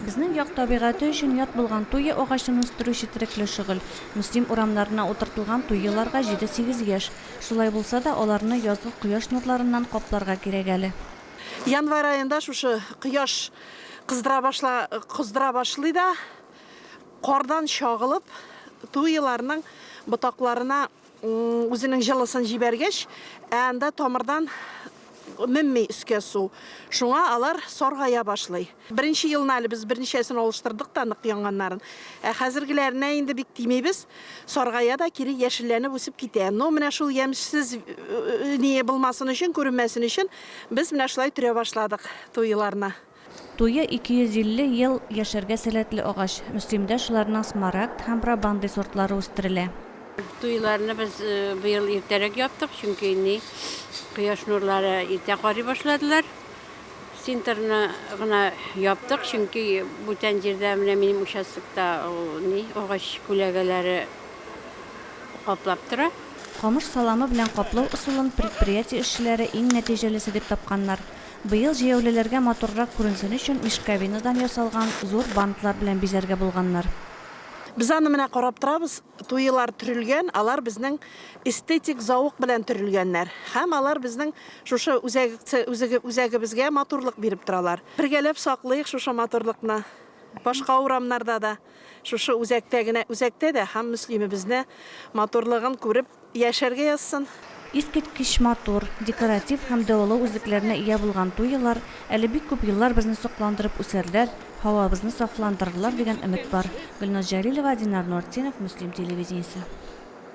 Безнең як табигате өчен ят булган туя агачын үстерү четерекле шөгыль. Мөслим урамнарына утыртылган туяларга җиде-сигез яшь. Шулай булса да, аларны язгы кояш нурларыннан капларга кирәк әле. Январь аенда шушы кояш кыздыра башла, кыздыра башлый да, кардан чагылып, туяларның ботакларына Үзенең җылысын җибәргәч, ә анда тамырдан менми өскә су. Шуңа алар саргая башлый. Беренче елны әле без берничәсен алыштырдык та нык яңганнарын. Ә хәзергеләренә инде бик тимибез. Саргая да кире яшелләнеп үсеп китә. Ну, менә шул ямьсез ние булмасын өчен, күренмәсен өчен, без менә шулай төрә башладык туеларны. Туе 250 ел яшәргә сәләтле агач. Мөслимдә шуларның Смарагд һәм Брабанды сортлары үстерелә. Туйларны без быел иртәрәк яптык, чөнки инде кояш нурлары иртә карый башладылар. Синтерны гына яптык, чөнки бүтән җирдә, менә минем участокта агач күләгәләре каплап тора. Камыш саламы белән каплау ысулын предприятие эшчеләре иң нәтиҗәлесе дип тапканнар. Быел җәяүлеләргә матуррак күренсен өчен мешковинадан ясалган зур бантлар белән бизәргә булганнар. Без аны менә карап торабыз, туелар төрелгән, алар безнең эстетик заук белән төрелгәннәр һәм алар безнең шушы үзәгебезгә матурлык биреп торалар. Бергәләп саклыйк шушы матурлыкны башка урамнарда да. Шушы үзәктә генә, үзәктә дә һәм Мөслимебезне матурлыгын күреп яшәргә язсын. Искиткеч матур, декоратив һәм дәвалау үзлекләренә ия булган туй елар әле бик күп еллар безне сокландырып үсәрләр, һавабызны сафландырырлар дигән өмет бар. Гөлназ Җәлилова, Динар Нуретдинов, Мөслим телевидениесе.